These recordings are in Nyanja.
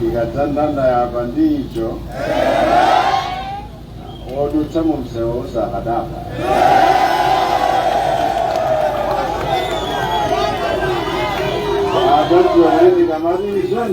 tikadzandanda yapa ndi icho odutsa mu msewu usakadapa adatenedi kamavision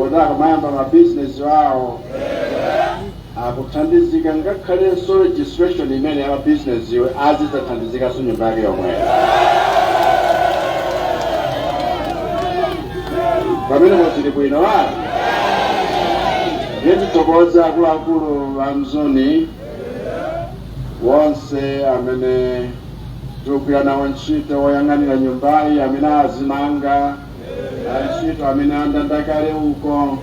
Oti akamayamba ma business awo akuthandizika ngakhalenso registration imene ya ma business iwe azidzathandizikanso nyumba yake yomweyo. Pamenepa zili bwino wa ndiye tithokoza akuluakulu a mzuni wonse amene tikugwira nawo ntchito woyang'anira nyumbayi amene azimanga antchito amene andanda kale uko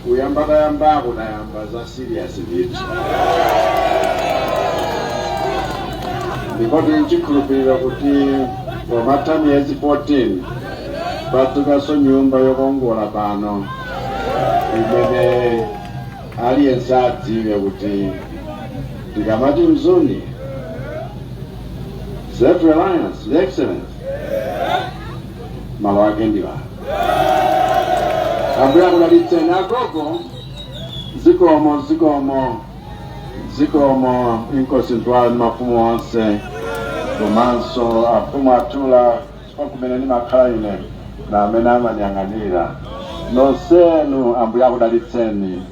kuyamba tayambako tayamba za siriasi ndithu ndipo tili n'chikhulupiriro kuti pomatha miyezi 14 patulukanso nyumba yokongola pano imene aliyense adziwe kuti tikamati mzuni Self-reliance, excellence. malo ake ndi lanu ambuye akudalitseni agogo zikomo zikomo zikomo Inkosi Mtwalo ndi mafumu onse komanso afumu atula chifukwa kumene ndimakhala ine na amene amandiyang'anira nonsenu ambuye akudalitseni